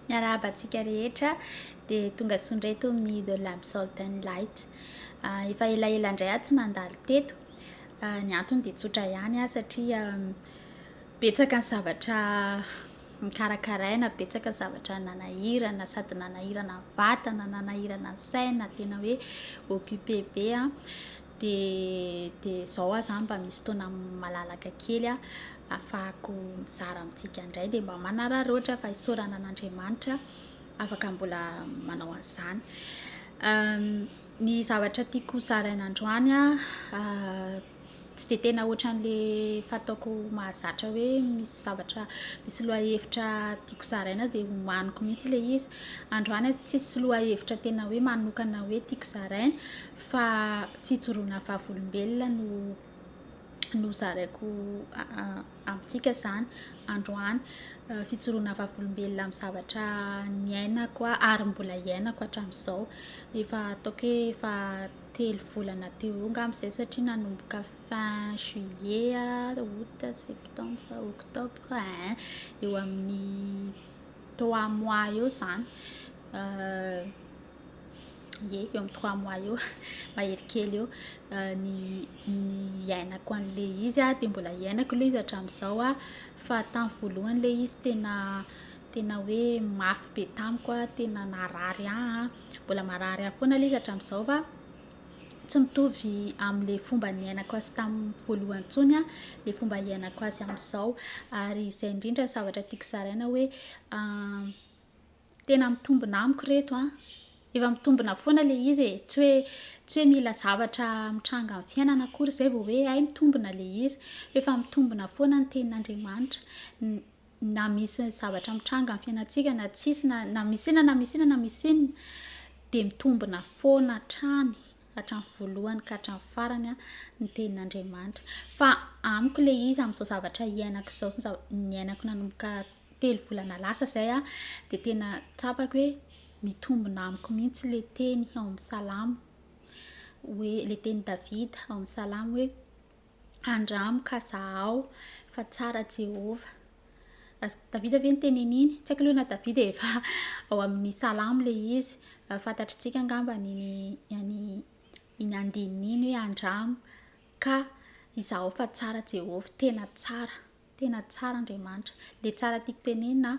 Miarahaba antsika rehetra dia tonga soa indray to amin'ny The Lamp Salt and Light. Ah, efa elaela indray aho tsy nandalo teto. Ah, ny antony dia tsotra ihany aho satria mm, betsaka ny zavatra nikarakaraina, betsaka ny zavatra nanahirana, sady nanahirana vatana, nanahirana saina, tena hoe occupé be an. Ah. Dia dia izao aho izany mba misy fotoana malalaka kely ahafahako mizara amintsika indray dia mba manararaotra fa isaorana an'Andriamanitra afaka mbola manao an'izany. Ny zavatra tiako zaraina androany tsy dia tena ohatran'ilay fataoko mahazatra hoe misy zavatra misy lohahevitra tiako zaraina dia homaniko mihitsy ilay izy. Androany aho tsisy lohahevitra tena hoe manokana hoe tiako zaraina. fa fijoroana vavolombelona no no zaraiko amintsika zany androany fijoroana vavolombelona amin'ny zavatra niainako ary mbola hiainako hatramin'izao efa ataoko hoe efa telo volana teo eo angamba izay satria nanomboka fin juillet ah aout septembre octobre hein eo amin'ny trois mois eo zany Ie, eo amin'ny trois mois eo, mahery kely eo. Ny ny iainako an'ilay izy dia mbola iainako ilay izy hatramin'izao fa tamin'ny voalohany ilay izy tena tena hoe mafy be tamiko, tena narary ahy, mbola marary ahy foana ilay izy hatramin'izao fa tsy mitovy amin'ilay fomba niainako azy tamin'ny voalohany intsony ilay fomba iainako azy amin'izao. Ary izay indrindra zavatra tiako zaraina hoe Tena mitombina amiko reto an! Efa mitombina foana le izy e! Tsy hoe tsy hoe mila zavatra mitranga amin'ny fiainana akory izay vao hoe hay mitombina le izy. F'efa mitombina foana ny tenin'Andriamanitra n- na misy zavatra mitranga amin'ny fiainantsika na tsisy na na misy inona na misy inona na misy inona dia mitombina foana hatrany hatramin'ny voalohany ka hatramin'ny farany an ny tenin'Andriamanitra. Fa amiko le izy amin'izao zavatra iainako izao sy ny zava- niainako nanomboka telo volana lasa zay a de tena tsapako hoe mitombina amiko mihitsy le teny ao amin'ny salamo hoe le teny davida ao amin'ny salamo hoe andramo ka zahao fa tsara jehovah davida ve nyteneniny tsy haiko aloha na davida efa ao amin'ny salamo le izy fantatritsika angamba ny any iny andininy iny hoe andramo ka izaho fa tsara jehovah tena tsara Tena tsara Andriamanitra. Le tsara tiako tenenina an,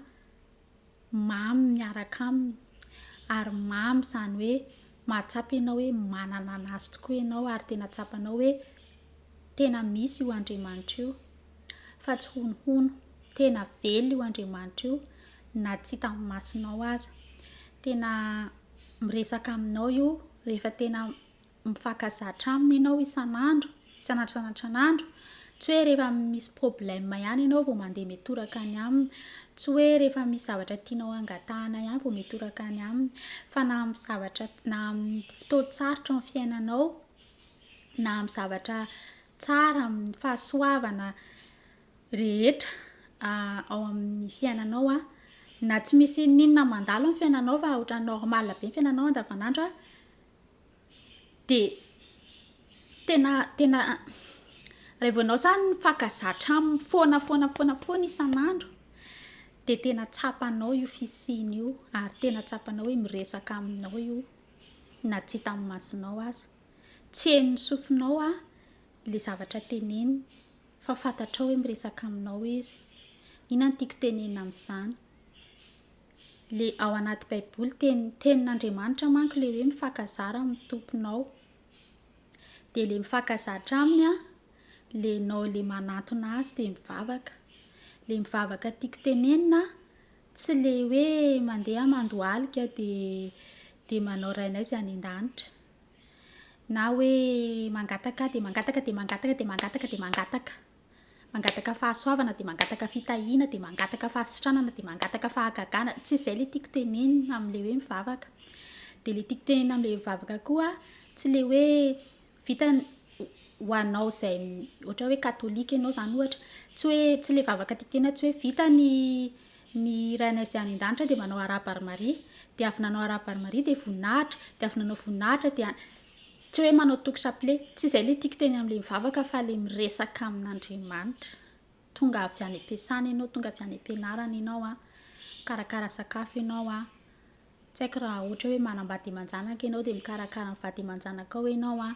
mamy miaraka aminy, ary mamy izany hoe mahatsapa ianao hoe manana an'Azy tokoa ianao ary tena tsapanao hoe tena misy io Andriamanitra io fa tsy honohono. Tena velona io Andriamanitra io na tsy hita amin'ny masonao aza. Tena miresaka aminao io rehefa tena mifankazatra aminy ianao isan'andro, isan'andro isan'andro, tsy hoe rehefa misy problème ihany ianao vao mandeha mitoraka any aminy, tsy hoe rehefa misy zavatra tianao hangatahana ihany vao mitoraka any aminy, fa na amin'ny zavatra na amin'ny fotoan-tsarotra ao amin'ny fiainanao, na amin'ny zavatra tsara, amin'ny fahasoavana rehetra ao amin'ny fiainanao an, na tsy misy inona na inona mandalo amin'ny fiainanao fa ohatran'ny normal be ny fiainanao andavan'andro an. dia tena tena raha vao ianao izany faka zatra aminy foana foana foana foana isan'andro dia tena tsapanao io fisiany io ary tena tsapanao hoe miresaka aminao io na tsy hitan'ny masonao aza, tsy henon'ny sofinao ilay zavatra teneniny fa fantatrao hoe miresaka aminao izy, inona no tiako tenenina amin'izany? Le ao anaty baiboly teny tenin'Andriamanitra manko le hoe mifakazara amin'ny tomponao de le mifakazatra aminy an le nao le manantona azy de mivavaka le mivavaka tiako tenenina tsy le hoe mandeha mandohalika de de manao rainay zay any an-danitra na hoe mangataka de mangataka de mangataka de mangataka de mangataka Mangataka fahasoavana dia mangataka fitahiana dia mangataka fahasitranana dia mangataka fahagagana tsy izay le tiako tenenina amle hoe mivavaka dia le tiako tenenina amle mivavaka koa tsy le hoe vita ho anao izay ohatra hoe katolika ianao zany ohatra tsy hoe tsy le vavaka tiako tenenina tsy hoe vita ny ny rainay izay any an-danitra dia manao araba ary maria dia avy nanao araba ary maria dia voninahitra dia avy nanao voninahitra dia Tsy hoe manao toky chapelet. Tsy izay ilay tiako teny amin'ilay mivavaka fa ilay miresaka amin'Andriamanitra. Tonga avy any am-piasana ianao, tonga avy any am-pianarana ianao an, mikarakara sakafo ianao an, tsy haiko raha ohatra hoe manambady aman-janaka ianao dia mikarakara ny vady aman-janakao ianao an,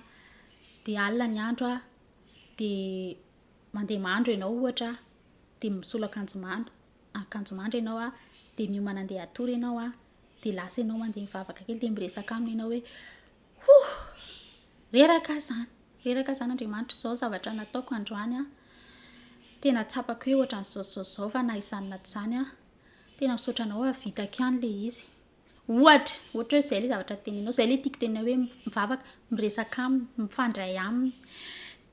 dia alina ny andro an, dia mandeha mandro ianao ohatra an, dia misolo akanjo mandro, akanjo mandro ianao an, dia miomana handeha hatory ianao an. dia lasa ianao mandeha mivavaka kely dia miresaka aminy ianao hoe hoh reraka aho zany reraka zany Andriamanitra izao zavatra nataoko androany an tena tsapako hoe ohatra an'izao zao zao fa na izany na tsy izany an tena misaotra anao hahavitako ihany le izy ohatra ohatra hoe izay le zavatra teninao izay le tiako tenina hoe mivavaka miresaka aminy mifandray aminy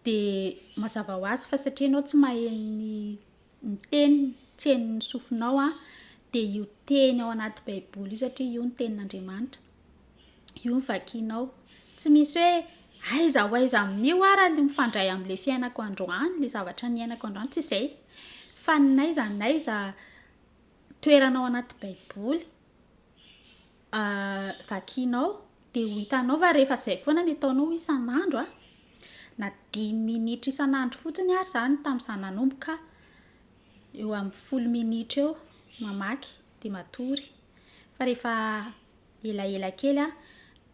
dia mazava ho azy fa satria ianao tsy maheno ny ny teny tsy henon'ny sofinao an, dia io teny ao anaty baiboly io satria io ny tenin'Andriamanitra. Io ny vakinao. Tsy misy hoe aiza ho aiza amin'io ara ny mifandray amin'ilay fiainako androany, ilay zavatra niainako androany, tsy izay. Fa n'aiza n'aiza toerana ao anaty baiboly. vakianao dia ho hitanao fa rehefa izay foana ny ataonao isan'andro a, na dimy minitra isan'andro fotsiny ary izany tamin'izaho nanomboka eo amin'ny folo minitra eo mamaky dia matory, fa rehefa elaela kely an,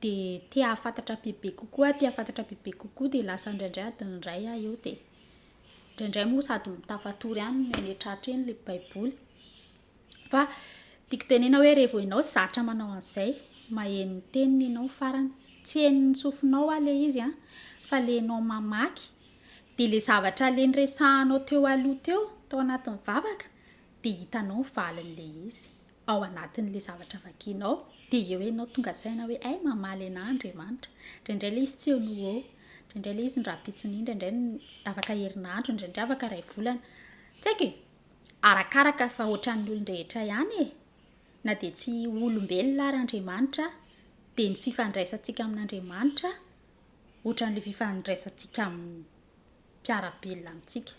dia te hahafantatra bebe kokoa aho, te hahafantatra bebe kokoa dia lasa indraindray adiny iray aho eo dia, indraindray moa sady tafatory ihany miha miha tratra eny ilay baiboly. Fa tiako tenena hoe revo enao zatra manao an'izay, maheno ny teniny enao farany. Tsy henon'ny sofinao aho le izy an, fa le enao mamaky, de le zavatra le niresahanao teo aloha teo tao anatin'ny vavaka, de hitanao ny valin'le izy ao anatin'le zavatra vakianao, de eo enao tonga saina hoe hay mamaly anah Andriamanitra. Indraindray le izy tsy eo no ho eo, indraindray le izy ny rahampitso an'io, indraindray afaka herinandro, indraindray afaka iray volana, tsy haiko e. Arakaraka fa ohatran'ny olon-drehetra ihany e! Na dia tsy olombelona ary Andriamanitra dia ny fifandraisantsika amin'Andriamanitra ohatran'ilay fifandraisantsika amin'ny mpiara-belona amintsika.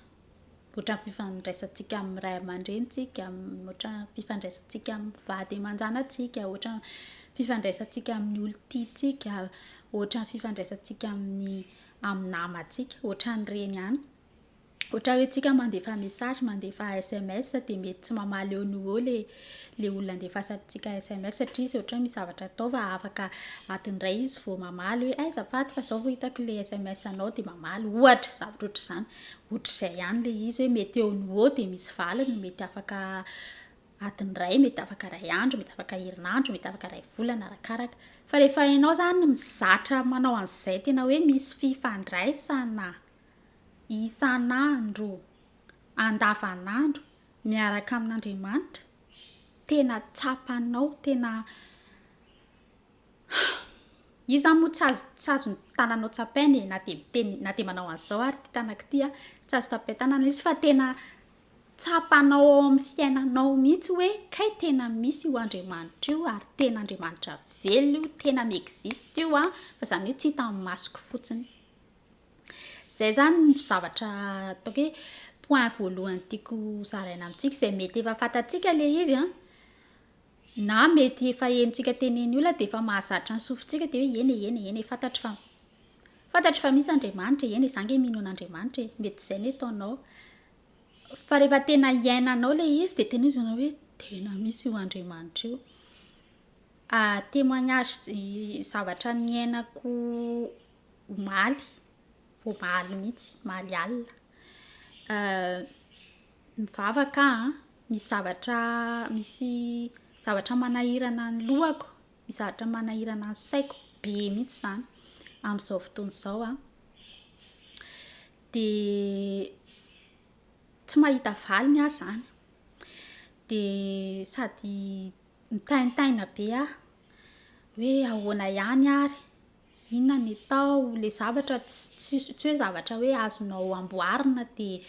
Ohatran'ny fifandraisantsika amin'ny ray aman-drenintsika, ohatran'ny fifandraisantsika amin'ny vady aman-janantsika, ohatran'ny fifandraisantsika amin'ny olon-tiantsika, ohatran'ny fifandraisantsika amin'ny amin'ny namantsika, ohatran'ireny ihany. Ohatra hoe tsika mandefa message, mandefa sms de mety tsy mamaly eo no eo le le olona andefasantsika sms satria izy ohatra hoe misy zavatra atao fa afaka adiny iray izy vao mamaly hoe aiza azafady fa zao vao hitako le sms anao de mamaly ohatra zavatra ohatra izany. Ohatra izay ihany le izy hoe mety eo no eo de misy valiny, mety afaka adiny iray, mety afaka iray andro, mety afaka herinandro, mety afaka iray volana arakaraka. Fa rehefa ianao zany mizatra manao an'izay tena hoe misy fifandraisana isan'andro, andavan'andro miaraka amin'Andriamanitra, tena tsapanao, tena iza moa tsy azo tsy azo ny tananao tsapaina e, na dia miteny na dia manao an'izao ary ity tanako ity an, tsy azo tapain-tanana izy fa tena tsapanao ao amin'ny fiainanao mihitsy hoe kay tena misy io Andriamanitra io ary tena Andriamanitra velona io, tena mi-existe io an, fa izany hoe tsy hita amin'ny masoko fotsiny. Izay izany no zavatra ataoko hoe point voalohany tiako zaraina amintsika izay mety efa fantatsika ilay izy an, na mety efa henontsika teny eny olona dia efa mahazatra ny sofintsika dia hoe eny e, eny e, eny e, fantatro fa fantatro fa misy Andriamanitra e, eny e, izaho ange mino an'Andriamanitra e, mety izay no ataonao. Fa rehefa tena iainanao ilay izy dia tena izy hoe tena misy io Andriamanitra io. Ah, témoignage zavatra niainako omaly, voamaly mihitsy, omaly alina. Mivavaka aho an, misy zavatra misy zavatra manahirana ny lohako, misy zavatra manahirana ny saiko be mihitsy izany amin'izao fotoana izao an. Dia tsy mahita valiny aho izany. Dia sady mitaintaina be aho hoe ahoana ihany ary. Inona ny atao? Ilay zavatra tsy tsy hoe zavatra hoe azonao amboarina dia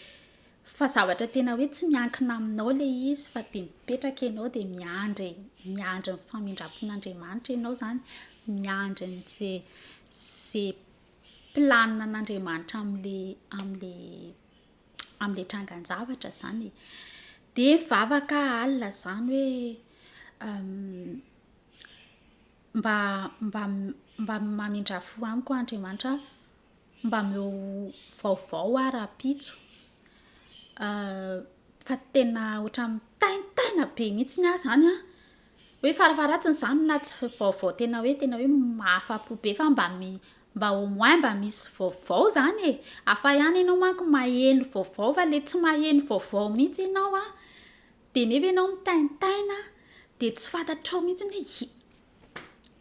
fa zavatra tena hoe tsy miankina aminao ilay izy fa dia mipetraka ianao dia miandry e, miandry ny famindram-pon'Andriamanitra ianao izany, miandry an'izay izay planin'Andriamanitra amin'ilay amin'ilay amin'ilay trangan-javatra izany e. Dia mivavaka alina izany hoe Mba mba mba mamindrà fo amiko aho Andriamanitra a! Mba omeo vaovao aho rahampitso fa tena ohatran'ny mitaintaina be mihitsy aho izany an! Hoe farafaharatsiny izany na tsy vaovao tena hoe tena hoe mahafa-po be fa mba mi- mba au moins mba misy vaovao izany e! Hafa ihany ianao manko maheno vaovao fa ilay tsy maheno vaovao mihitsy ianao an! Dia nefa ianao mitaintaina dia tsy fantatrao mihitsy ny hoe tsy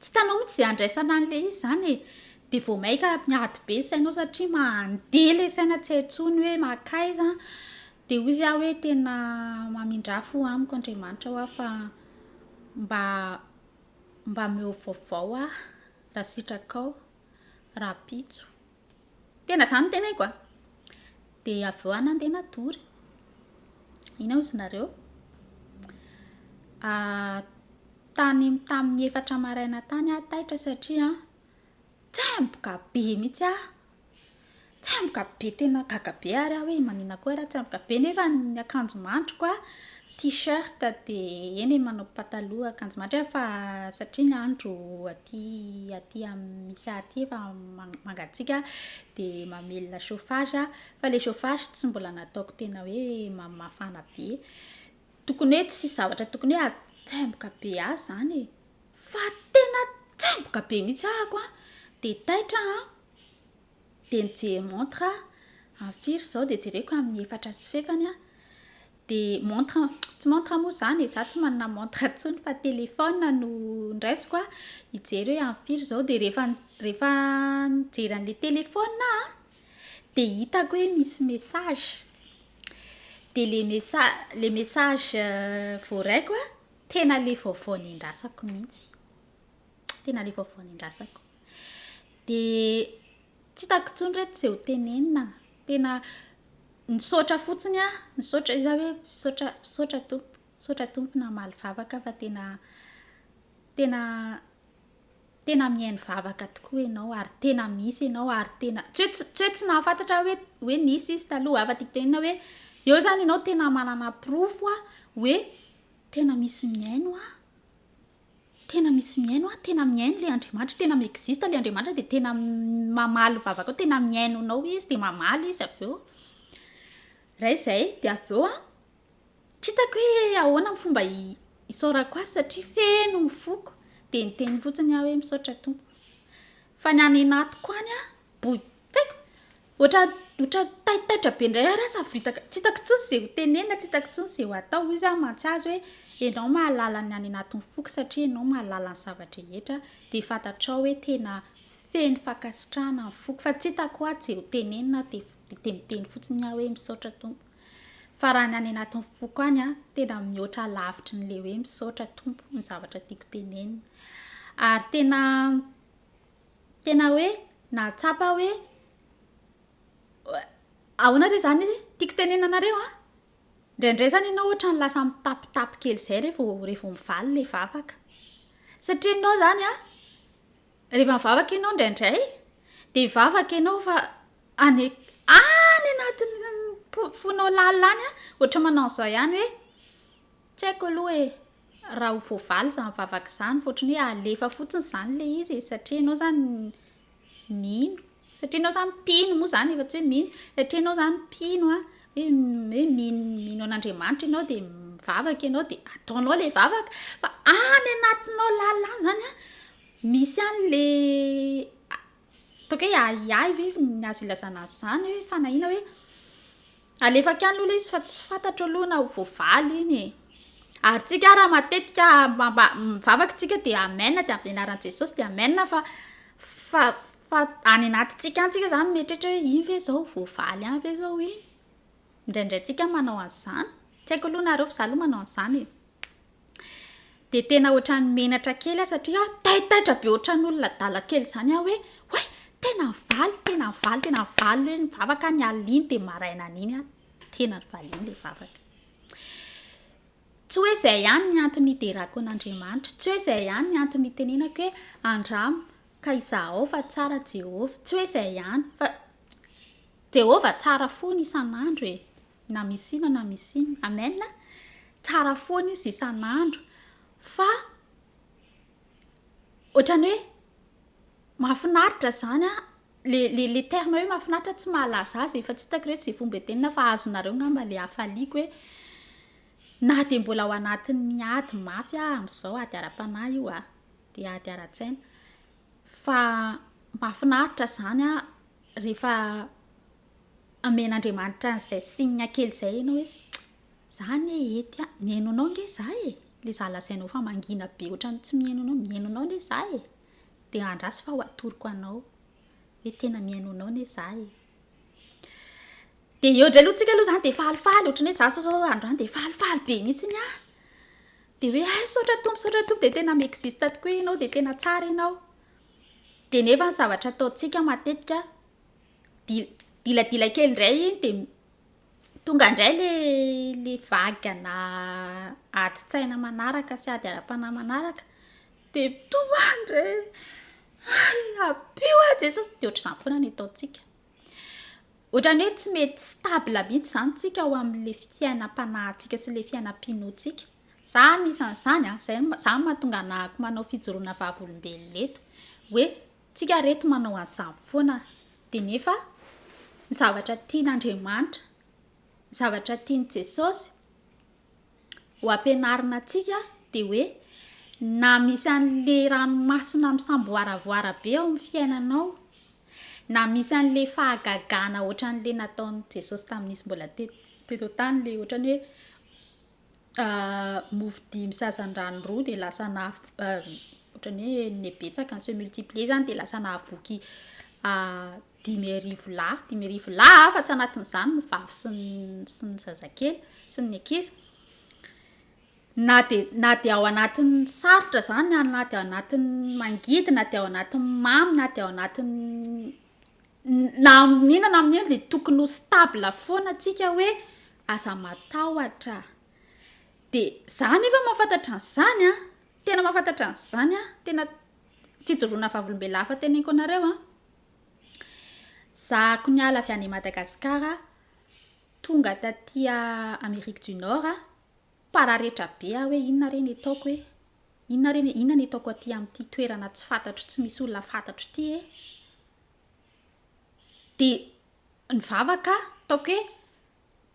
hitanao mihitsy izay andraisana an'ilay izy izany e. Dia vao mainka miady be ny sainao satria mandeha ilay saina tsy hay intsony hoe mankaiza. Dia hoy izy aho hoe tena mamindrà fo amiko Andriamanitra ho'a fa mba mba omeo vaovao aho raha sitrakao rahampitso. Tena izany no teneniko a! Dia avy eo aho nandeha nadory. Inona hozy nareo? Tany tamin'ny efatra maraina tany aho taitra satria tsemboka be mihitsy aho. Tsemboka be tena gaga be ary aho hoe maninona koa ary aho tsemboka be nefa ny akanjo mandriko T-shirt de eny e manao pataloha akanjo matra fa satria ny andro aty aty misy ahy aty efa mangatsiaka de mamelona chauffage aho fa le chauffage tsy mbola nataoko tena hoe mafana be tokony hoe tsy zavatra tokony hoe atsemboka be ahy zany e fa tena tsemboka be mihitsy ahako a de taitra an dia mijery montre aho amin'ny firy izao dia jereko amin'ny efatra sy fefany aho dia montre tsy montre moa izany e za tsy manana montre intsony fa téléphone no ndraisiko a hijery hoe amin'ny firy izao dia rehefa rehefa nijery an'ilay téléphone aho dia hitako hoe misy message dia ilay message ilay message voaraiko a tena ilay vaovao nendrasako mihitsy tena ilay vaovao nendrasako Dia tsy hitako intsony reto izay ho tenenina. Tena nisaotra fotsiny aho, nisaotra izaho hoe misaotra misaotra Tompo, misaotra Tompo namaly vavaka aho fa tena tena tena mihaino vavaka tokoa ianao ary tena misy ianao ary tena tsy hoe tsy hoe tsy nahafantatra aho hoe hoe nisy izy taloha. Hafa tiako tenenina hoe eo izany ianao tena manana porofo hoe tena misy mihaino ahy. Tena misy mihaino a, tena mihaino ilay Andriamanitra, tena mi-existe ilay Andriamanitra dia tena mamaly vavakao, tena mihaino anao izy dia mamaly izy avy eo. Iray izay, dia avy eo an, tsy hitako hoe ahoana ny fomba isaorako azy satria feno ny foko, dia niteny fotsiny aho hoe misaotra Tompo. Fa ny any anatiko any an, boy, tsy haiko, Ohatran ohatran taitaitra be ndray ary aho savoritaka, tsy hitako intsony ze ho tenenina, tsy hitako intsony ze ho atao, hoy za mantsy azy hoe, enao mahalala ny any anatin'ny foko satria enao mahalala ny zava-drehetra de fantatrao hoe tena feno fankasitrahana ny foko, fa tsy hitako ato ze ho tenenina de de miteny fotsiny aho hoe misaotra Tompo, fa raha ny any anatin'ny foko any an, tena mihoatra lavitry ny le hoe misaotra Tompo ny zavatra tiako tenenina, ary tena Tena hoe nahatsapa aho hoe ahoana re izany tiako tenenina anareo an! Indraindray izany ianao ohatran'ny lasa mitapitapy kely izay re vao re vao mivaly ilay vavaka. Satria ianao izany an, rehefa mivavaka ianao indraindray dia hivavaka ianao fa any an- any anatin'ny po- fonao lalina any an, ohatran'ny manao an'izao ihany hoe tsy haiko aloha e. raha ho voavaly izany vavaka izany fa ohatran'ny hoe alefa fotsiny izany ilay izy e, satria ianao izany mino, satria ianao izany mpino moa izany efa tsy hoe mino, satria ianao izany mpino an, hoe hoe mino mino an'Andriamanitra ianao dia mivavaka ianao dia ataonao ilay vavaka, fa any anatinao lalina any izany an, misy an'ilay Toaka hoe ahiahy ve ny azo ilazana azy izany hoe fanahiana hoe alefaka any aloha ilay izy fa tsy fantatro aloha na ho voavaly iny e. Ary tsika ara matetika mivavaka tsika dia amen dia amin'ny anaran'i Jesosy dia amen fa fa fa any anatintsika any tsika izany mieritreritra hoe iny ve izao voavaly any ve izao iny. Indraindray tsika manao an'izany. Tsy haiko aloha nareo fa za aloha manao an'izany e. dia tena ohatran'ny menatra kely aho satria taitaitra be ohatran'ny olona adala kely izany aho hoe oay tena nivaly tena nivaly tena nivaly hoe ny vavaka ny alina dia maraina an'iny aho tena nivaliana ilay vavaka tsy hoe izay ihany ny antony hiderako an'Andriamanitra tsy hoe izay ihany ny antony hitenenako hoe andramo ka izahao fa tsara Jehovah tsy hoe izay ihany fa Jehovah tsara fona isan'andro e! Na misy ino na misy ino. Amen! Tsara fona izy isan'andro fa ohatran'ny hoe mahafinaritra izany an! le le terme hoe mahafinaritra tsy mahalaza azy e! fa tsy hitako re tsy fomba itenina fa azonareo angamba le hafaliako hoe na dia mbola ao anatin'ny ady mafy aho amin'izao, ady ara-panahy io an! dia ady ara-tsaina fa mahafinaritra izany an! Rehefa amen'Andriamanitra an'izay signe kely izay ianao hoe za anie ety an, mihaino anao ange za e, ilay za lazainao fa mangina be ohatran'ny tsy mihaino anao, mihaino anao anie za e, dia andraso fa ho atoroko anao hoe tena mihaino anao anie za e. Dia eo indray aloha tsika aloha izany dia falifaly, ohatran'ny hoe za zao izao androany dia falifaly be mihitsy aho, dia hoe hay misaotra Tompo, misaotra Tompo dia tena mi-existe tokoa ianao, dia tena tsara ianao. Dia nefa ny zavatra ataontsika matetika dil- diladila kely indray iny dia tonga indray ilay le vagana adin-tsaina manaraka sy ady ara-panahy manaraka dia tomany indray hay ampio aho Jesosy, dia ohatr'izany foana ny ataontsika. Ohatran'ny hoe tsy mety stable mihitsy izany isika ao amin'ilay fiainam-panahintsika sy ilay fiainam-pinoantsika. Za anisan'izany a, zay zany no mahatonga anahako manao fijoroana vavolombelona eto, hoe tsika reto manao an'izany foana de nefa ny zavatra tian'Andriamanitra, ny zavatra tian'i Jesosy ho ampianarina antsika de hoe na misy an'le ranomasina misamboaravoara be ao amin'ny fiainanao, na misy an'le fahagagana ohatran'le nataon'i Jesosy tamin'izy mbola te- teto an-tany le ohatran'ny hoe. mofo dimy sazandrano roa de lasa na ohatrany hoe ne betsaka ny se multiplier zany de lasa nahavoky dimy arivo lahy dimy arivo lahy ah fa tsy anatin'izany ny vavy sy ny sy ny zazakely sy ny ankizy na de na de ao anatin'ny sarotra zany na de ao anatin'ny mangidy na de ao anatin'ny mamy na de ao anatin'ny na amin'inona na amin'inona dia tokony ho stable foana antsika hoe aza matahotra. Dia za nefa mahafantatra an'izany an, tena mahafantatra an'izany an, tena fijoroana vavolombelona hafa teneniko anareo an, zahako niala avy any Madagasikara tonga taty Amerique du Nord aho. Pararetra be aho hoe inona re ny ataoko e! Inona re ny, inona ny ataoko aty amin'ity toerana tsy fantatro, tsy misy olona fantatro ity e! Dia nivavaka aho, ataoko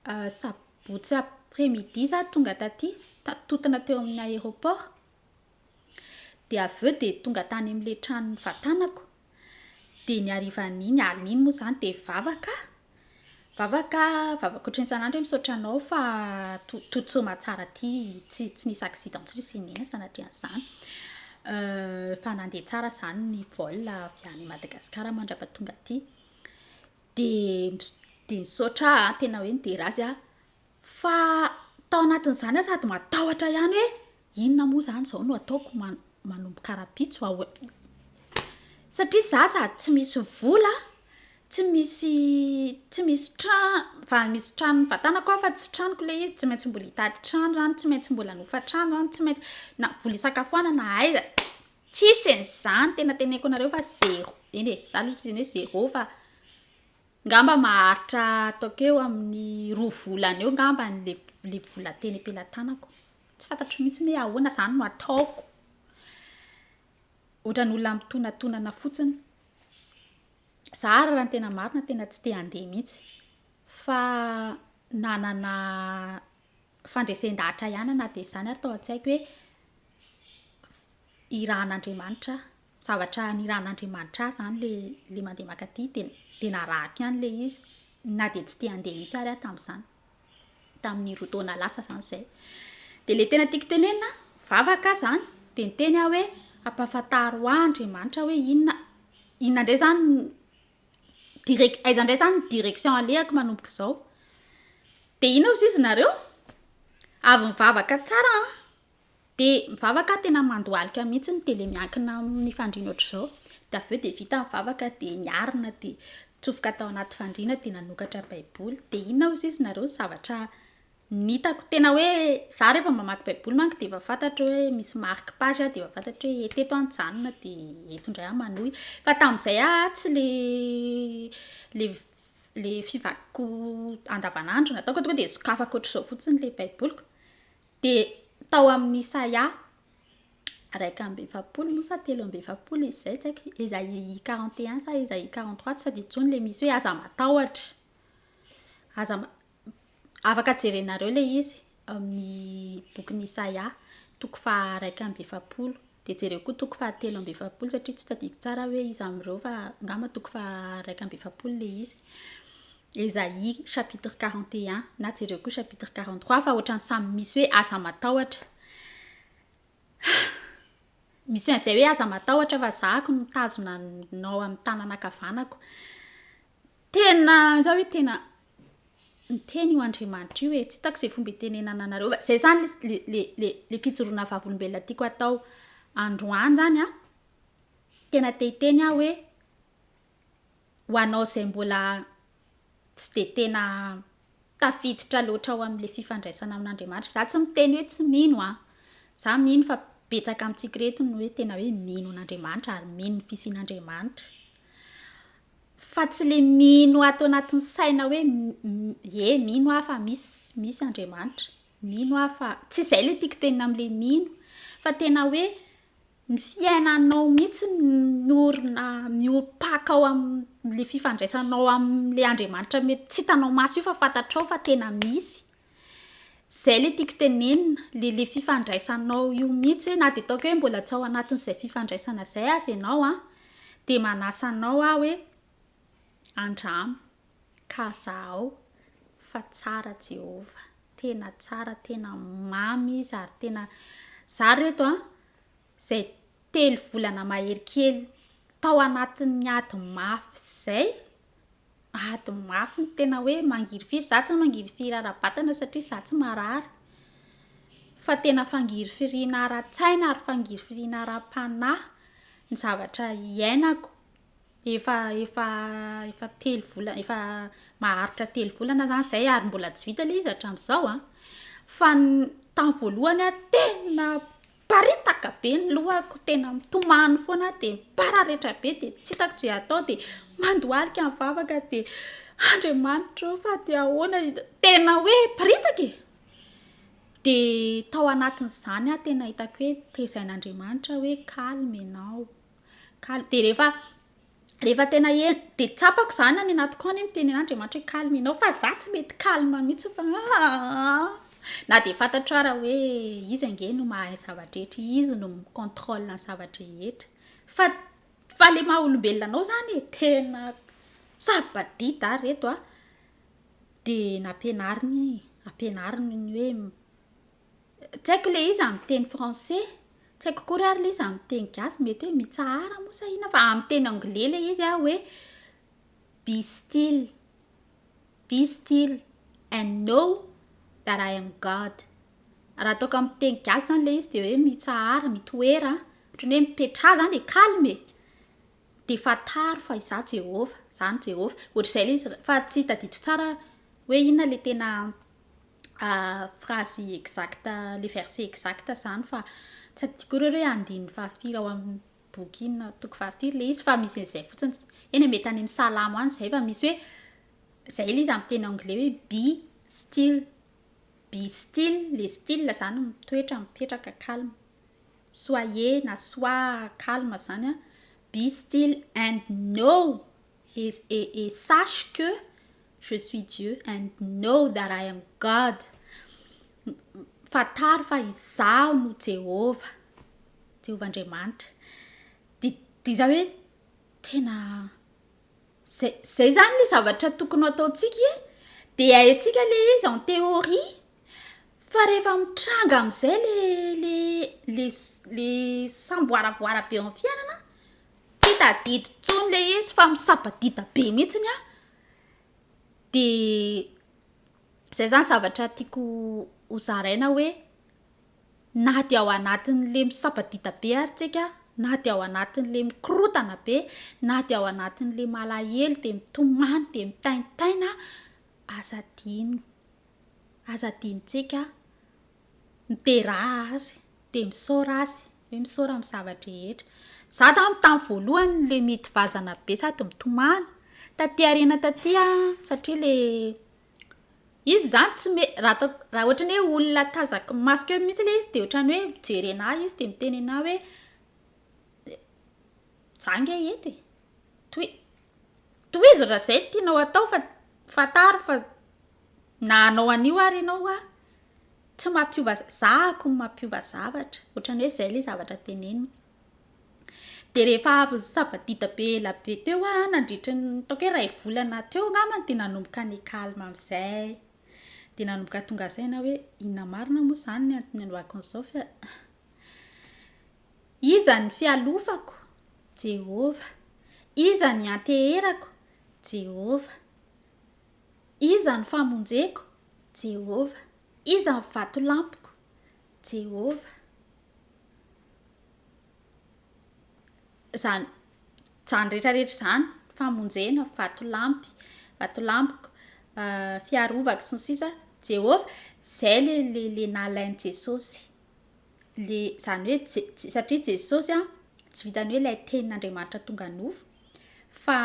hoe sabotsy après midi za tonga taty, ta- totina teo amin'ny aéroport. dia avy eo dia tonga tany amin'ilay trano nivatanako, dia ny harivan'iny alina iny moa izany dia vavaka aho, vavaka aho, vavaka ohatran'ny isan'andro hoe misaotra anao fa to- toa tsy mahatsara aty, tsy tsy nisy accident tsy nisy inona inona sanatrian'izany, fa nandeha tsara izany ny vol avy any Madagasikara mandra-pahatonga aty, dia dia nisaotra aho tena hoe nidera azy aho, Fa tao anatin'izany aho sady matahotra ihany hoe inona moa izany izao no ataoko, man- manomboka rahampitso aho e. Satria izaho sady tsy misy vola, tsy misy tsy misy tra- fa misy tranon'ny vatanako aho fa tsy tranoko ilay izy, tsy maintsy mbola hitady trano izany, tsy maintsy mbola hanofa trano izany, tsy maintsy na vola hisakafoanana na aiza, tsisy an'izany, tena teneniko anareo fa zéro, eny e, izaho aloha tsy izany hoe zéro fa. Ngamba maharitra ataoko eo amin'ny roa volana eo ngamba le le vola teny am-pelatanako. Tsy fantatro mihitsy hoe ahoana zany no ataoko. Ohatran'ny olona mitonatonana fotsiny. Za ary raha ny tena marina tena tsy te handeha mihitsy fa nanana fandresen-dahatra ihany aho na dia izany ary tao an-tsaiko hoe f- irahan'Andriamanitra aho. zavatra nirahan'Andriamanitra ahy zany le le mandeha mankaty de de narahiko ihany le izy na de tsy te handeha mihitsy ary aho tamin'izany tamin'ny roa taona lasa zany zay de le tena tiako tenenina vavaka aho zany de niteny aho hoe ampahafantaro ahy Andriamanitra hoe inona inona ndray zany direc- aiza ndray zany direction alehako manomboka izao de inona ozy izy nareo avy mivavaka tsara an Dia mivavaka tena mandohalika mihitsy ny tele miankina amin'ny fandriana ohatr'izao. Dia avy eo dia vita ny vavaka dia niarina dia nitsofoka tao anaty fandriana dia nanokatra baiboly. Dia inona hozy izy nareo ny zavatra nitako. Tena hoe za rehefa mamaky baiboly manko dia efa fantatro hoe misy marque page aho dia efa fantatro hoe teto aho nijanona dia eto indray aho manohy. Fa tamin'izay aho tsy le le le fivakiko andavanandro nataoko tonga dia sokafako ohatr'izao fotsiny ilay baiboliko. Dia tao amin'ny Isaia iraika amby efapolo moa sa telo amby efapolo izy izay, tsy haiko, Isaia quarante et un sa Isaia quarante trois, tsy tadidiko intsony, ilay misy hoe aza matahotra. Aza ma- afaka jerenareo ilay izy amin'ny bokin'i Isaia, toko faha iraika amby efapolo. Dia jereo koa toko faha telo amby efapolo satria tsy tadidiko tsara aho hoe iza amin'ireo fa angamba toko faha iraika amby efapolo ilay izy. Esaïe chapitre quarante et un na jereo koa chapitre quarante trois fa ohatran'ny samy misy hoe aza matahotra. Misy an'izay hoe aza matahotra fa zahako no mitazona anao amin'ny tanana ankavanako. Tena za hoe tena niteny io Andriamanitra io e, tsy hitako izay fomba itenenana anareo fa izay izany le le le le fijoroana vavolombelona tiako atao androany izany a, tena te hiteny aho hoe ho anao izay mbola tsy dia tena tafiditra loatra ao amin'ilay fifandraisana amin'Andriamanitra. Izaho tsy miteny hoe tsy mino an! Izaho mino fa betsaka amintsika ireto no hoe tena hoe mino an'Andriamanitra ary mino ny fisian'Andriamanitra. Fa tsy ilay mino ato anatin'ny saina hoe ie mino aho fa misy misy Andriamanitra, mino aho fa, tsy izay ilay tiako tenenina amin'ilay mino, fa tena hoe Ny fiainanao mihitsy miorina miorim-paka ao amin'ilay fifandraisanao amin'ilay Andriamanitra mety tsy hitanao maso io fa fantatrao fa tena misy. Izay ilay tiako tenenina, ilay ilay fifandraisanao io mihitsy hoe na dia ataoko hoe mbola tsy ao anatin'izay fifandraisana izay aza ianao an, dia manasa anao aho hoe andramo. Ka zahao fa tsara Jehovah, tena tsara, tena mamy izy ary tena Za ry reto a, zay telo volana mahery kely tao anatin'ny ady mafy zay, ady mafy tena hoe mangirifiry, za tsy mangirifiry ara-batana satria za tsy marary, fa tena fangirifiriana ara-tsaina ary fangirifiriana ara-panahy ny zavatra iainako. Efa efa efa telo volana efa maharitra telo volana zany zay ary mbola tsy vita le izy hatramin'izao a, fa ny tamin'ny voalohany aho tena niparitaka be ny lohako, tena mitomany foana aho de mipararetra be de tsy hitako ze atao de mandohalika ny vavaka de Andriamanitra o fa de ahoana i- tena hoe miparitaka e! de tao anatin'izany aho tena hitako hoe tezain'Andriamanitra hoe calme ianao. Kal- de rehefa rehefa tena en- de tsapako zany any anatiko any miteny an'Andriamanitra hoe calme enao fa za tsy mety calme mihitsy fa aah na de fantatro ara hoe izy ange no mahay ny zava-drehetra izy no mi contrôle ny zava-drehetra fa fa le maha olombelona anao zany e tena saba-dida ah reto a de nampianariny ampianariny ny hoe Tsy haiko le izy amin'ny teny français, tsy haiko akory ary le izy amin'ny teny gasy, mety hoe mitsahara moa sa inona fa amin'ny teny anglais le izy an hoe be still, be still and know that I am God. Raha ataoko amin'ny teny gasy izany le izy dia hoe mitsahara, mitoera, ohatran'ny hoe mipetraha izany e, calme e. Dia fantaro fa Izaho Jehovah, Izaho ny Jehovah. Hoatr'izay ilay izy, fa tsy tadidio tsara hoe inona ilay tena phrase exacte, ilay verset exacte izany fa tsy adidiko akory hoe andininy fahafiry ao amin'ny boky inona, toko fahafiry ilay izy fa misy an'izay fotsiny. Eny e, mety any amin'ny Salamo any izay fa misy hoe, izay ilay izy amin'ny teny anglais hoe be still, be still, ilay still izany mitoetra, mipetraka, calme. Soyez na sois calme zany a, be still and know et et sache que je suis Dieu and know that I am God. Fantaro fa izaho no Jehovah, Jehovah Andriamanitra. Dia dia izaho hoe tena Zay zay izany ilay zavatra tokony ho ataontsika e! Dia haintsika ilay izy en théorie, fa rehefa mitranga amin'izay ilay ilay ilay samboaravoara be eo amin'ny fiainana, tsy tadidy intsony ilay izy fa misabadida be mihitsiny an! Dia izay izany zavatra tiako hozaraina hoe. Na dia ao anatin'ilay misabadida be ary tsika, na dia ao anatin'ilay mikorotana be, na dia ao anatin'ilay malahelo dia mitomany dia mitaintaina, aza adino, aza adinontsika mideraha Azy dia misaora Azy, hoe misaora amin'ny zava-drehetra. Izaho tamin'ny tamin'ny voalohany ilay miady vazana be sady mitomany, taty aoriana taty aho satria ilay. Izy zany tsy me- raha atao- raha ohatra ny hoe olona tazako masoko eo mihitsy le izy de ohatran'ny hoe mijery anah izy de miteny anah hoe za nge eto e! toi- tohizo raha zay no tianao atao fa fantaro fa na hanao an'io ary ianao hoa tsy mampiova za- za akony mampiova zavatra, ohatran'ny hoe zay le zavatra teneniny. Dia rehefa avy ny sabadida be ela be teo aho, nandritra ny ataoko hoe iray volana teo angambany dia nanomboka ny calme amin'izay. Dia nanomboka tonga saina hoe inona marina moa izany ny antony nanaovako an'izao fa iza ny fialofako? Jehovah. Iza ny anteherako? Jehovah. Iza ny famonjeko? Jehovah. Iza ny vatolampiko? Jehovah. Izany izany rehetra rehetra izany, famonjena, vatolampy, vatolampiko, fiarovako sy ny sisa, Jehovah, izay ilay ilay ilay nalain'i Jesosy. Ilay izany hoe Je- Je- satria Jesosy a, tsy vitan'ny hoe ilay tenin'Andriamanitra tonga nofo fa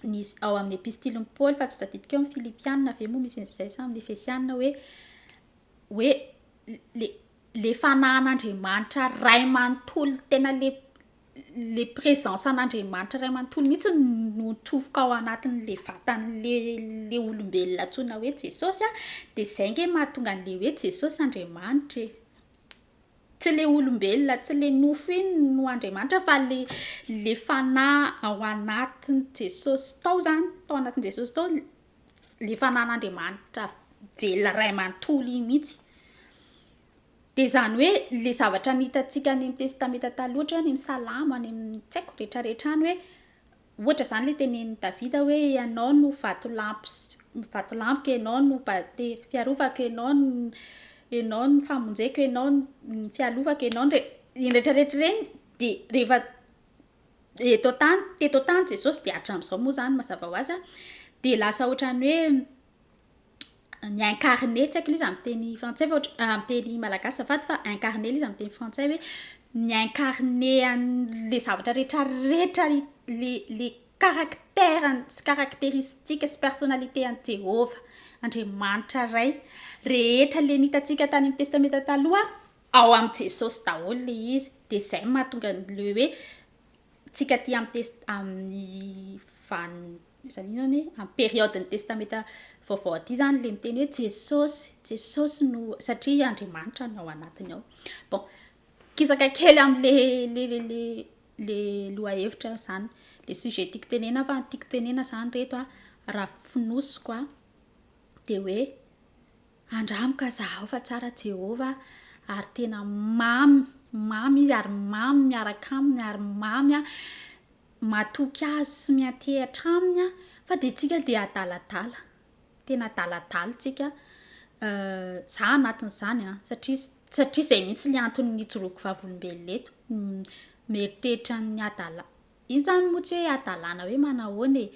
nisy ao amin'ny epistilin'i Paoly fa tsy tadidiko eo amin'ny Filipiana ve moa misy an'izay sa amin'ny Efesiana hoe hoe le le fanahan'Andriamanitra Ray manontolo tena le le présence an'Andriamanitra Ray manontolo mihitsy no mitsofoka ao anatin'le vatan'le le olombelona antsoina hoe Jesosy a de zay nge mahatonga an'le hoe Jesosy Andriamanitra e tsy le olombelona tsy le nofo iny no Andriamanitra fa le le fanahy ao anatin'i Jesosy tao zany tao anatin'i Jesosy tao le fanan'Andriamanitra velona ray manontolo iny mihitsy de zany hoe le zavatra ny hitantsika any amin'ny testamenta taloha ohatra hoe any amin'ny salamo any amin'ny tsy haiko retraretra any hoe ohatra zany le tenenin'i davida hoe ianao no vatolampy vatolampiko ianao no batera fiarovako ianao no ianao no famonjeko ianao ny fialovako ianao ny retraretra ireny de rehefa Eto an-tany, teto an-tany Jesosy dia hatramin'izao moa izany mazava ho azy dia lasa ohatran'ny hoe mi-incarner, tsy haiko ilay izy amin'ny teny frantsay fa ohatra- amin'ny teny malagasy azafady fa incarner ilay izy amin'ny teny frantsay hoe mi-incarner an'ilay zavatra rehetrarehetra i- ilay ilay caractère-ny sy caractéristique sy personnalité an'i Jehovah, Andriamanitra Ray. Rehetra ilay ny hitantsika tany amin'ny Testamenta Taloha Ao am Jesosy daholo le izy de zay mahatonga ny le hoe tsika aty am test am ny van zany inona ny hoe am periode ny testameta vaovao aty zany le miteny hoe Jesosy Jesosy no satria Andriamanitra no ao anatiny ao bon kisaka kely am le le le le le loha hevitra zany le sujet tiko tenena fa tiko tenena zany reto a raha fonosiko a de hoe Andramo ka zahao fa tsara Jehovah ary tena mamy mamy izy ary mamy miaraka aminy ary mamy matoky azy sy miantehatra aminy fa dia tsika dia adaladala tena adaladala tsika za anatin'izany satria satria izay mihitsy le antony nijoroako vavolombelona eto mieritreritra ny hadala iny zany moa tsy hoe hadalana hoe manahoana e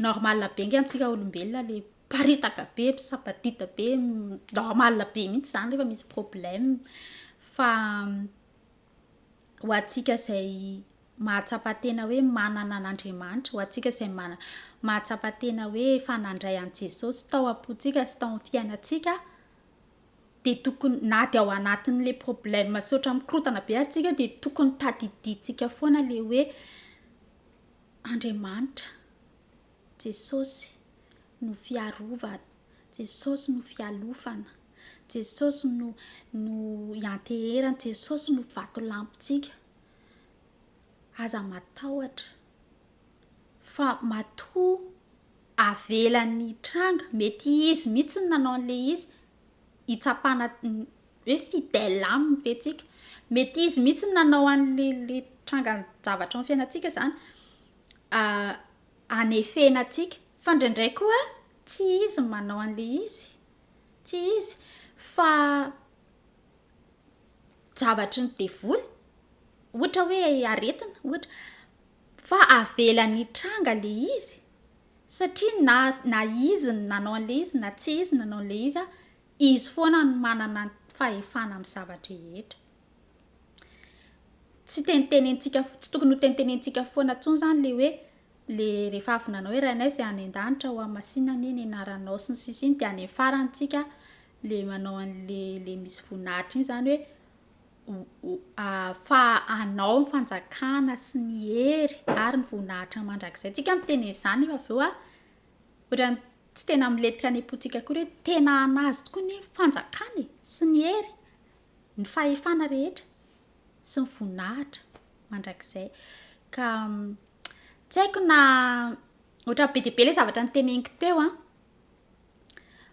normal be nge amintsika olombelona le Miparitaka be, misampadidy be, normal be mihitsy izany rehefa misy problème fa ho antsika izay mahatsapa tena hoe manana an'Andriamanitra, ho antsika izay mana- mahatsapa tena hoe efa nandray an'i Jesosy tao am-pontsika sy tao amin'ny fiainantsika dia tokony na dia ao anatin'ilay problème misaotra mikorontana be aza isika dia tokony tadidintsika foana ilay hoe Andriamanitra. Jesosy no fiarovana, Jesosy no fialofana, Jesosy no no ianteherana, Jesosy no vatolampintsika. Aza matahotra fa matoa avelany hitranga, mety izy mihitsy no nanao an'ilay izy hitsapana hoe fidèle aminy ve tsika, mety izy mihitsy no nanao an'ilay le tranga zavatra ao amin'ny fiainantsika zany. anefena antsika fa ndraindray koa tsy izy no manao an'ilay izy tsy izy fa javatry ny devoly ohatra hoe aretina ohatra fa avelany hitranga le izy satria na na izy ny nanao an'le izy na tsy izy nanao an'le izy a izy foana no manana fahefana amin'ny zava-drehetra tsy tenitenenintsika tsy tokony ho tenitenenintsika foana intsony zany le hoe le rehefa avy nanao hoe rainay izay any an-danitra ho amin'ny masina anie ny anaranao sy ny sisa iny dia any amin'ny farany tsika le manao an'le le misy voninahitra iny zany hoe fa anao ny fanjakana sy ny hery ary ny voninahitra mandrakizay tsika miteny an'izany fa avy eo ah ohatran'ny tsy tena milentika any am-pontsika akory hoe tena an'azy tokoa ny fanjakana e sy ny hery Ny fahefana rehetra sy ny voninahitra mandrakizay. Ka tsy haiko na ohatran'ny be dia be ilay zavatra noteneniko teo an.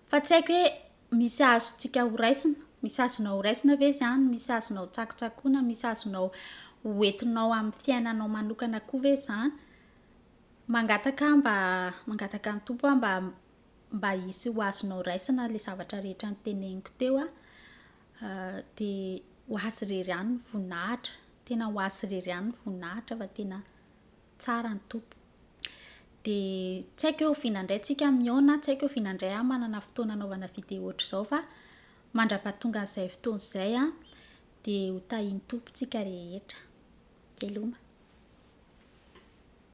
Fa tsy haiko hoe misy azontsika horaisina, misy azonao horaisina ve izany, misy azonao hotsakotsakoina, misy azonao hoentinao amin'ny fiainanao manokana koa ve izany. Mangataka aho mba, mangataka an'i Tompo aho mba mba hisy ho azonao raisina ilay zavatra rehetra niteneniko teo a, dia ho azy irery ihany ny voninahitra, tena ho azy irery ihany ny voninahitra fa tena tsara ny Tompo. Dia tsy haiko hoe oviana indray tsika mihaona, tsy haiko oviana indray aho manana fotoana anaovana vidéo ohatr'izao fa mandrapahatonga an'izay fotoana izay a, dia ho tahian'ny Tompo tsika rehetra. Veloma.